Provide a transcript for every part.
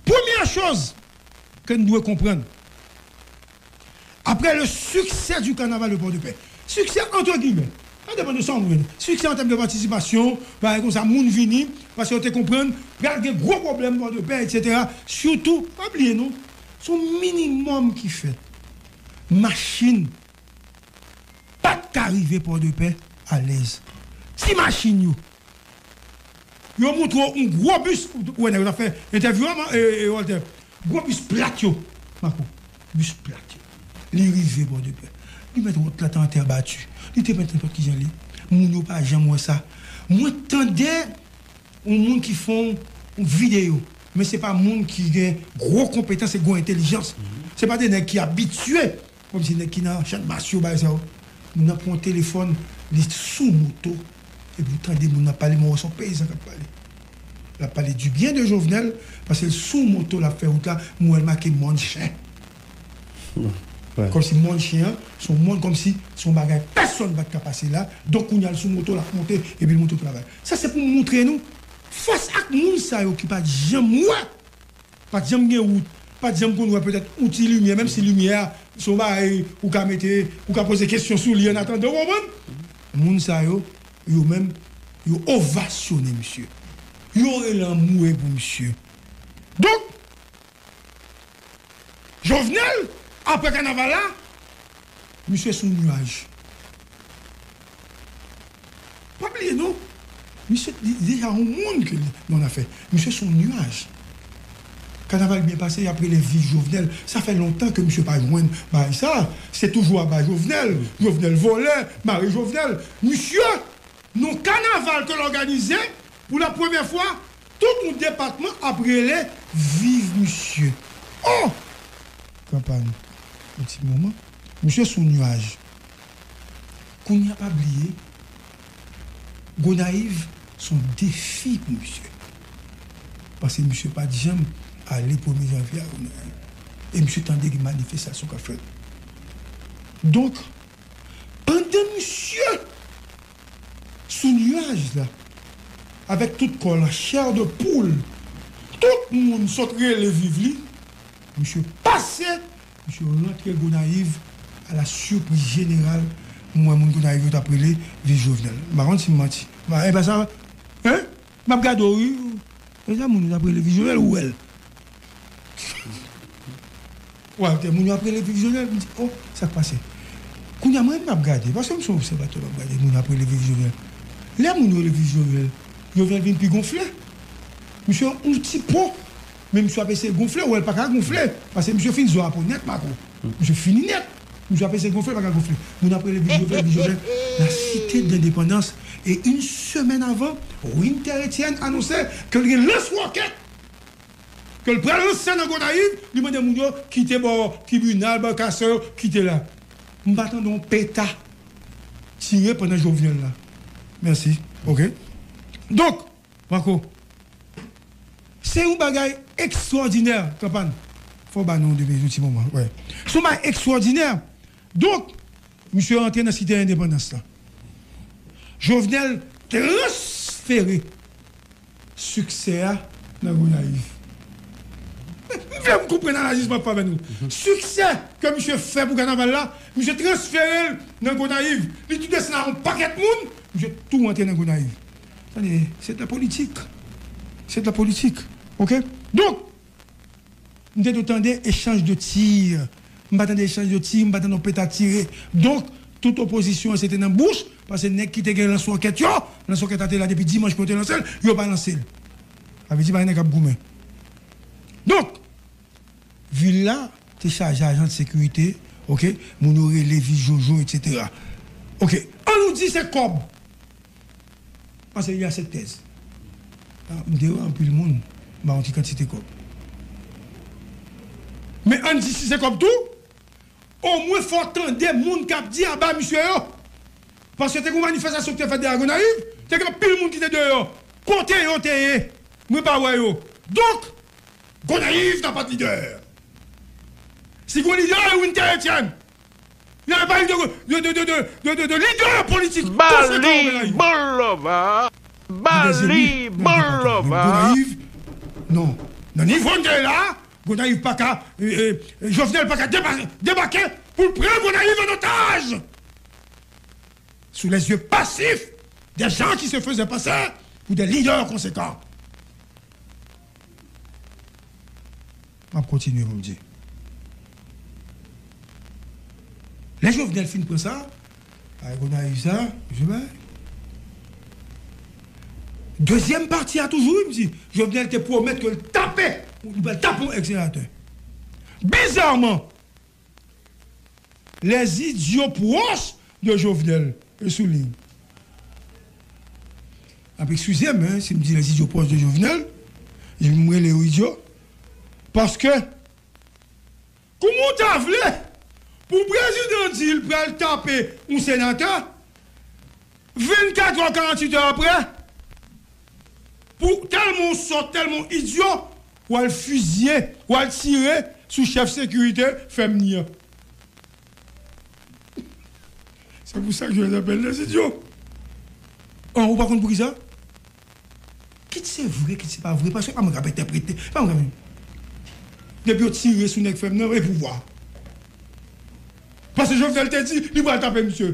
Premyè choz ke n dwe konprann, apre le succès du carnaval de Port-de-Paix, succès entre guillemets, sa depan de sa w wè li, succès en termes de participation, bagay konsa, moun vini, paske yo te konprann pral gen gwo pwoblèm Port-de-Paix etc. Surtout, pa bliye non, se yon minimum ki fèt. Machin pat ka rive Port-de-Paix alèz. Ti machin yo, Yo montre w yon gwo bis, ou wè nèg yo t ap fè entèvyou a man e Walter, gwo bis plat yo, Marco, bis plat yo, li rive bò de pè, li mèt wòt la te an tè bati, li te pent nenpòt kijan li, moun yo pa janm wè sa, mwen tande yon moun ki fè yon videyo, men se pa moun ki gen gwo konpetans e gwo entelijans, se pa de nèg ki abitye Kom se neg ki nan channmas yo bay sa yo moun nan pran yon telefon li sou moto epi ou tande moun nan pale men ou wè son peyizan kap pale lap pale du byen de jovenel paske l sou moto lap fè wout la m wèl make mòn chen kom si mòn chen an son mòn kom si son bagay pèsòn pat ka pase la donk kounya l sou moto lap monte epi l monte travay sa se pou moutre nou fas ak moun sa yo ki pat janm wè Pa t janm gen wout, pa t janm konn wè petèt yon ti limyè, menm si limyè a se yon bagay ou ka mete, ou ka poze kesyon sou li annatandan, ou konprann? Moun sa yo, yo menm, yo ovasyone misye. Yo rele anmwe pou misye. Donk, Jovenel, apre kanaval la, Misye sou nuaj. Pa bliye non. Misye li deja yon moun ke li nan lafè. Misye sou yon nuaj. Kanaval byen pase yap rele viv Jovenel. Sa fè lontan ke misye pa jwenn bagay sa. Se toujou aba Jovenel. Jovenel vole. Mare Jovenel. Misye nan yon kanaval ke l òganize pou la premye fwa Tout moun depatman ap rele viv misye oh kanpay yon ti moman misye sou nuaj kounya pa bliye gonayiv son defi pou misye paske misye pat janm ale premye janvye a gonayiv e misye tande gen manifestasyon kap fèt donk pandan misye sou nuaj la avèk tout kò l an chè de poul tout moun sot rele viv li misye pase misye rantre gonayiv a la surprise jeneral m wè moun gonayiv yo t ap rele viv jovenel m pa konn si m manti m pa e pa sa hein. Map gade w wi. Ejan moun yo tap rele vizyonè ou wèl. Walter moun yo ap rele vivyonè m di oh sak pase kounya m renmn ap gade paske m son obsèvatè map gade moun yo ap rele vivyonè lè moun yo rele vivyonè jovenel vin pi gonfle misye yon ti po Men misye ap eseye gonfle, ou wèl paka gonfle, pase misye fin zo a po nèt Marco, misye fini nèt, misye ap eseye gonfle paka gonfle, moun ap rele Viv Jovenel Viv Jovenel la site dendepandans e yn semèn avan Winter Etienne anonse kel gen lans wòkèt kel pral lanse nan Gonayiv li mande moun yo kite bò tribinal barkasè yo kite la m pa tande yon peta tire pandan Jovenel la mèsi ok donk. Marco. Se yon bagay ekstwòdinè kanpàn. Fò w ba non w depi yon ti moman. Wè. Se yon bagay ekstwòdinè. Donk, misye rantre nan Site Endepandans lan. Jovenel transfere siksè a nan Gonayiv. M vle m konprann analiz m ap fè avè nou. Siksè ke misye fè pou kanaval la, misye transfere l nan Gonayiv. Li tou desann ak yon pakèt moun, misye tou rantre nan Gonayiv. Tande, se de la politik. Se de la politik. Ok? Donk, m te do tande echanj de tir. M pa tande echanj de tir, m pa tande yon peta tire. Donk, tout opozisyon an se te nan bouch, pase nèg ki te gen lanswòkèt yo, lanswòkèt la te la depi dimanch pou yo te lanse l, yo pa lanse l. Sa vle di pa gen nèg k ap goumen. Donk, vil la te chaje ajan de sekirite, ok, moun yo rele, vi jojo, eksetera. Ok, an nou di se kòb. Pase li a sèt pèz. M te wè anpil moun ba yon ti kantite kòb. Men ann di si se kòb tou, omwen fò w tande moun k ap di aba misye yo. Paske te gen yon manifestasyon ki te fèt dèyè Gonayiv, te gen anpil moun ki te deyò. Kote yo te ye? Mwen pa wè yo. Donk, Gonayiv ta pa t lidè. Si gen yon lidè, e Winter Etienne. Yo ap pale de leader politik. Bal li bon love a. Bal li bon love a. Non nan nivo nou te ye la a Gonayiv paka Jovenel paka debake pou l pran Gonayiv an otaj sou les yeux passifs des gens qui se faisaient passer pour des leaders conséquents. Map kontinye pou m di. Lè Jovenel fin pran sa. Bagay Gonayiv sa je bay. Dezyèm pati a toujou wi m di Jovenel te pwomèt ke l tape li pral tape yon ex senatè. Bizarman Les idiots pwòch de Jovenel yo sou liy. Nap ekskize m si m di les idiots pwòch de Jovenel, m rele yo idyo paske kouman w ta vle pou prezidan di l pral tape yon senatè 24 è 48 è aprè pou tèlman w sòt, tèlman w idyo. Wal fizye, wal tire sou chèf sekirite fèmni an. Se pou sa Joel apèl nan sityo. An ou pa konn poukisa? Kit se vre kit se pa vre paske pa mwen kap entèprete. Pa mwen kap. Depi yo tire sou nèg fèmni an e pouvwa. Paske Jovenel te di li pral tape misye.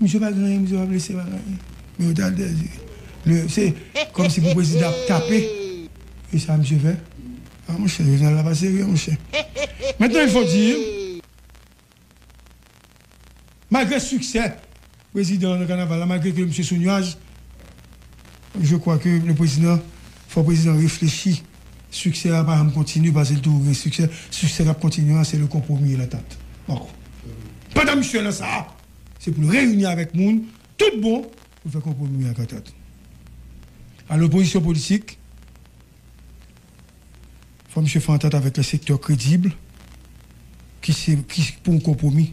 Misye pa gen anyen misye pa blese pa gen anyen men yo ta dèz le se kòmsi pou prezidan ap tape e sa misye fè a monchè jovenel la pa serye monchè mentnan il fo dir malgre siksè prezidan nan kanaval la malgre ke misye sou nuaj je kwa ke le prezidan fò prezidan reflechi. Succès a pa janm kontinye pase l toujou gen succès, succès kap kontinye an se le compromis et l'entente. Marco. Pandan misyon an nan sa a, se pou l reyini avèk moun tout bon pou l fè compromis ak antant. Alò opozisyon politik, fò misye fè antant avèk yon sektè kredib ki se, ki pou yon compromis.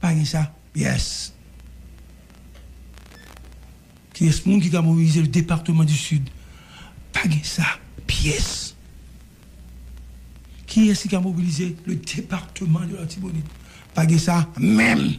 Pa gen sa yes. Kiyes moun ki ka mobilize le departement du sud pa gen sa pyes kiyes ki ka mobilize le departement de l'Artibonite pa gen sa menm.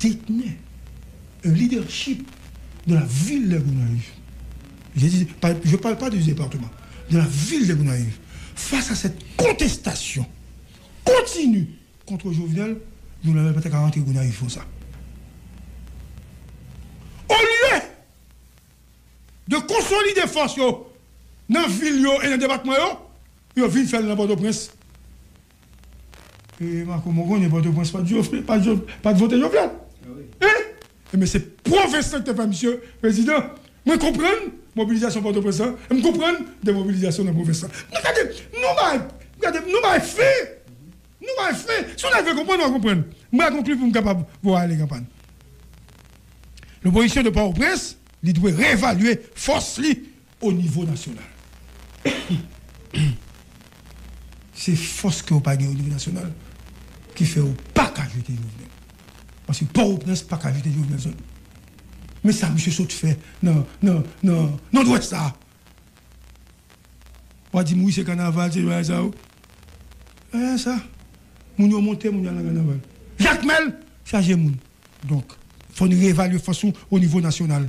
detni leadership de la ville de Gonaïves, je dis, je parle pas du département, de la ville de Gonaïves, face à cette contestation continue contre Jovenel, Jovenel pa te ka rantre Gonaïves konsa. Au lieu de consolider force yo nan ville yo et nan departement yo, yo vinn fè l nan Port-au-Prince. Eee Marco mwen konnen pòtoprens pat jofle pat vote jovenel eeh enben se pwovens lan ki te fè misye prezidan mwen konprann mobilizasyon pòtoprens lan em konprann demobilizasyon nan pwovens lan men gade nou bay gade nou bay fen nou bay fen si yon nèg vle konprann wap konprann m pral konkli poum kapab voye ale kanpay lopozisyon de pòtoprens li dwe revalye fòs li o nivo nasyonal. Se fòs ke w pa gen o nivo nasyonal ki fè w pa ka jete Jovenel. Paske Pòtoprens pa ka jete Jovenel Zòn. Men sa misye sot fè nan Nòdwès la a. W a di m wi se kanaval, se bagay sa yo. Eeh sa! Moun yo monte, moun yo al nan kanaval. Jakmèl chaje moun. Donk, fò n revalye fòs nou o nivo nasyonal.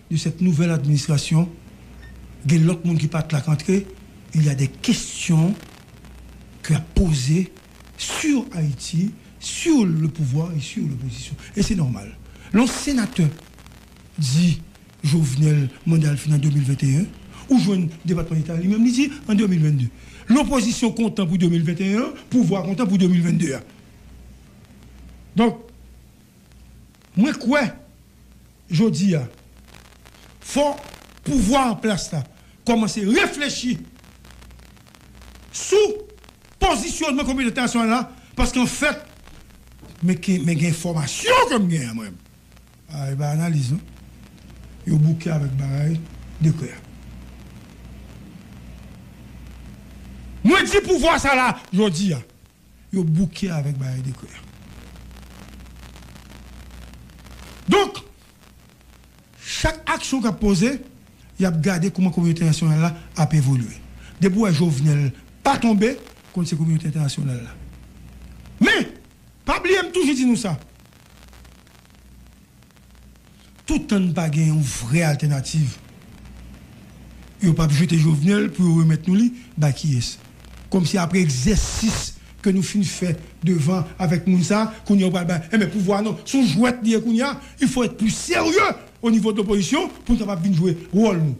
de cette nouvelle administration gen lòt moun ki pat la k antre il y a des questions que yap poze sur Haïti sur le pouvoir et sur l'opposition et c'est normal lè yon senatè di Jovenel manda l fini an 2021 ou jwenn depatman deta a li menm li di an 2022 l'opposition kontan pou 2021 an pouvwa kontan pou 2022 a donk Mwen kwè jodi a fò pouvwa an plas la kòmanse reflechi sou pozisyonman kominote entènasyonal la paske an fèt men ke men gen enfòmasyon ke m gen an mwen a e bay analiz non yo bouke avèk bagay dekrè a. Mwen di pouvwa sa la jodi a Yo bouke avèk bagay dekrè a. Donk, chak aksyon k ap poze, y ap gade kouman kominote entènasyonal la ap evolye. Depi w wè Jovenel pa tonbe, konn se kominote entènasyonal la. Men, pa bliye m toujou di nou sa. Tout tan n pa gen yon vrè altènativ, yo pap jete Jovenel pou yo remèt nou li bay kiyès? Kòmsi aprè egzèsis ke nou fin fè devan avèk moun sa, kounya ou pral bay, enben pouvwa non, son jwèt li ye kounya, il faut être plus sérieux au niveau de l'opposition pou n kapab vin jwe wòl nou.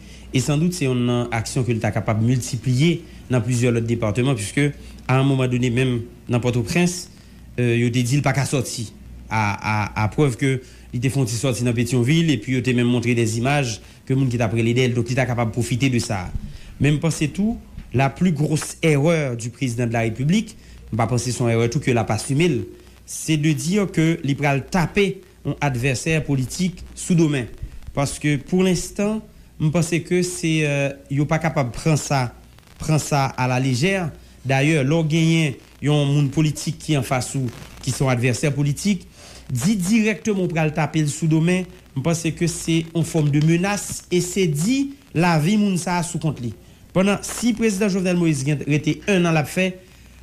E san dout se yonn nan aksyon ke l ta kapab miltipliye nan plizyè lòt departeman piske a yon moman done menm nan Pòtoprens yo te di l pa ka sòti a a prèv ke li te fè yon ti sòti nan Petyonvil epi yo te menm montre dè zimaj ke moun ki t ap rele dè l donk li ta kapab pwofite de sa a. Men m panse tou la pli gros erreur du prezidan de la repiblik, m pa panse s on erreur tou ke l ap asime l, se de dire ke li pral tape yon advèsè politik sou do men paske pou lenstan m panse ke se yo pa kapab pran sa pran sa a la lejè dayè lè w genyen yon moun politik ki anfas ou ki se yon advèsè politik di dirèkteman w pral tape l sou do men m panse ke se yon fòm de menas e se di lavi moun sa a sou kont li pandan si prezidan Jovenel Moïse gen rete 1 an l ap fè.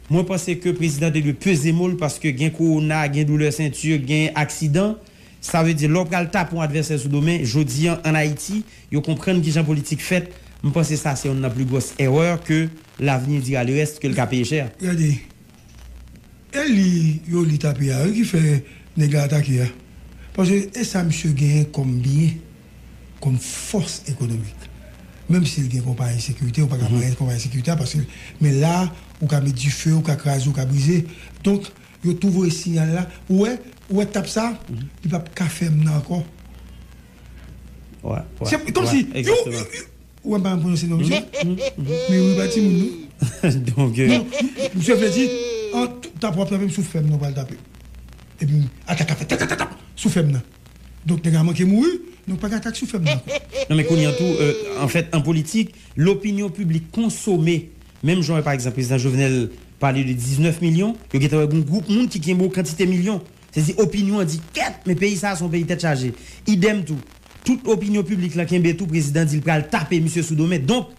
Mwen panse ke prezidan te dwe peze mo l paske gen kowona, gen doulè senti, gen aksidan. Sa vle di lè w pral tape yon advèsè sou do men jodi an ann Ayiti yo konprann kijan politik fèt, m panse sa se yonn nan pli gwòs erè ke l'avenir dira le reste ke l ka peye chè. Gade, e li yo li tape a wi ki fè nèg la atake a. Paske e sa misye genyen kòm byen. kòm fòs ekonomik. Menm si l gen konpayi sekirite, ou pa ka pare konpayi sekirite a paske men la a ou ka met dife, ou ka kraze, ou ka brize. Donk, yo tou voye siyal la. Ou wè, ou wè tap sa a? Li pap ka fèm nan ankò. Se kòm si yo, ou wè m pa janm pwononse non misye. Men wi pa timoun non. Donk, misye vle di, tap wap tape m sou fèm nan ou pral tape m. Epi atak ap fèt, tap tap tap tap sou fèm nan. Donk nèg la manke mouri, nou pa gen atak sou fèb la ankò. Non men kounye an tou, anfèt, an politik, lopinyon piblik konsome, menm jan wè pa egzanp Prezidan Jovenel pale de 19 milyon, yo gentan wè gon gwoup moun ki kenbe yon kantite milyon. Se di opinyon an di kèt, men peyi sa a se yon peyi tèt chaje. Idèm tou, tout opinyon piblik la kenbe tou Prezidan di li pral tape misye sou do men. Donk.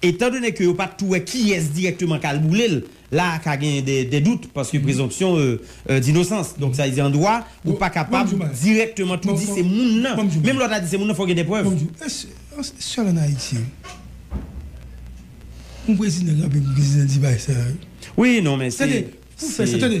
Etan done ke yo pa tou wè kiyès dirèkteman kal boule l, la a ka gen dè dout paske prezonpsyon dinosans. Donk sa vle di an dwa ou pa kapab dirèkteman tou di se moun nan. Menm lè w ta di se moun nan fò w gen dè prèv. Sèl an Ayiti yon prezidan kanpe pou prezidan di bagay sa yo. Wi non men se. Tande pou w fè sa tande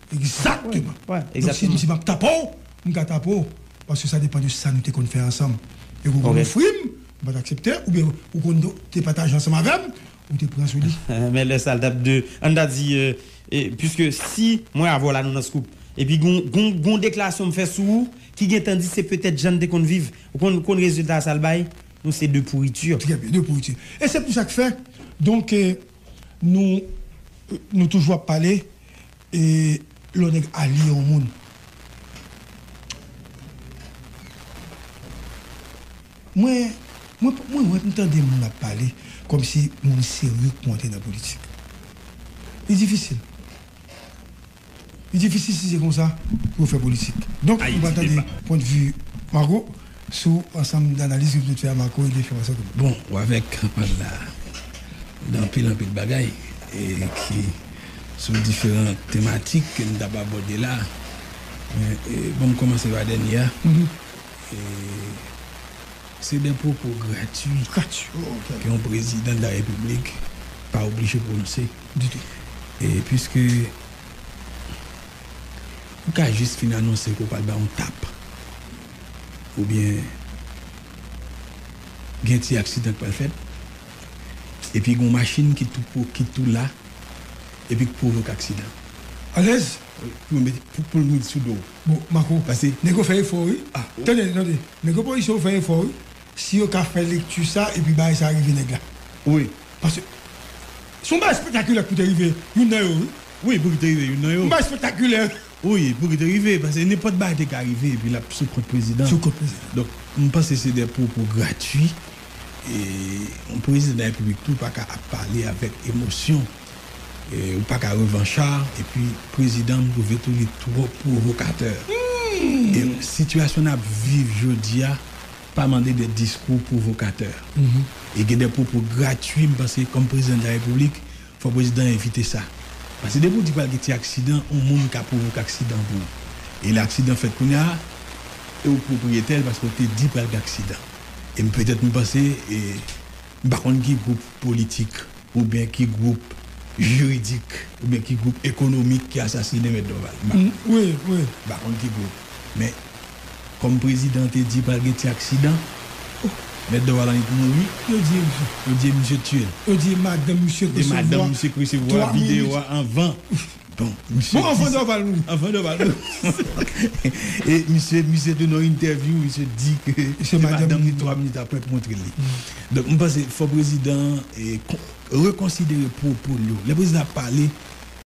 Exactement! Donc si li di map tape w, m ka tape w paske sa depan de sa nou te konn fè ansanm. Epi ou konn ofri m, m pat aksepte oubyen ou konn te pataje ansanm avè m, ou te pran sou li. Men lè sa l tap de, an n ta di puiske si mwen avè w la nou nan scoop epi gon deklarasyon m fè sou ou ki gentan di se petèt jan n te konn viv, ou konn konn rezilta sa l bay? Nou se 2 pourriture. Trè byen, 2 pourriture. E se pou sa k fè donc. Nou Nou toujou ap pale e lò nèg alye yon moun mwen mwen mwen wè m tande moun ap pale kòm si moun serye k monte nan politik li difisil. Li difisil si se konsa pou yo fè politik. Donk nou pral tande pwent vi Marco sou ansanm analiz yo vin t fè a Marco ebyen fè pase konnen. Bon ou avèk mwen la nan anpil anpil bagay ki sou diferan tematik ke nou tap abòde la men banm kòmanse pa dènye a se de pwopo gratwi ke yon prezidan de la repiblik pa oblije pwononse. Ditou. E piske ou ka jis fin anonse ke ou pral bay yon tap oubyen gen ti aksidan k pral fèt epi gen yon machin ki tou pwo ki tou la epi k pwovoke aksidan an. Alèz? Wi, pou yo mete pou poul mete sou do w. Bon, Mako, Pase. nèg yo fè efò wi. Ah, tande, tande, nèg yo polisye yo fè efò wi. Si yo ka fè lekti sa epi bagay sa rive nèg la wi paske se yon bagay espètakilè pou te rive youn nan yo wi. Wi pou ki te rive youn nan yo. Yon bagay espètakilè. Wi pou ki te rive paske nenpòt bagay te ka rive epi l ap sou kont prezidan. Sou kont prezidan. Donk m panse se de pwopo gratui e yon prezidan darepiblik tou pa ka ap pale avèk emosyon e ou pa ka revancha epi prezidan m twouve tou li twò pwovokatè e sitiyasyon n ap viv jodi a pa mande de diskou pwovokatè e gen de pwopo gratui m panse kòm prezidan de la repiblik fò prezidan evite sa pase depi w di pral gen ti aksidan on moun ka pwovoke aksidan pou ou e lè aksidan fèt kounya e w pwopriyetè l paske w te di pral gen aksidan e m petèt m panse e. M pa konn ki gwoup politik oubyen ki gwoup jiridik oubyen ki gwoup ekonomik ki asasinen Mèt Dòval. M pa konn ki gwoup. Men, kòm prezidan te di pral gen ti aksidan, Mèt Dòval annik mouri. Yo di misye. Yo di misye tiye l. Yo di madanm misye te resevwa 3 mil. Yo di madanm misye te resevwa videyo a anvan. Bon misye di sa e misye misye tou nan entèvyou misye di ke se madanm li 3 minit aprè k montre li donk m panse fò prezidan an rekonsidere pwopo l yo lè prezidan ap pale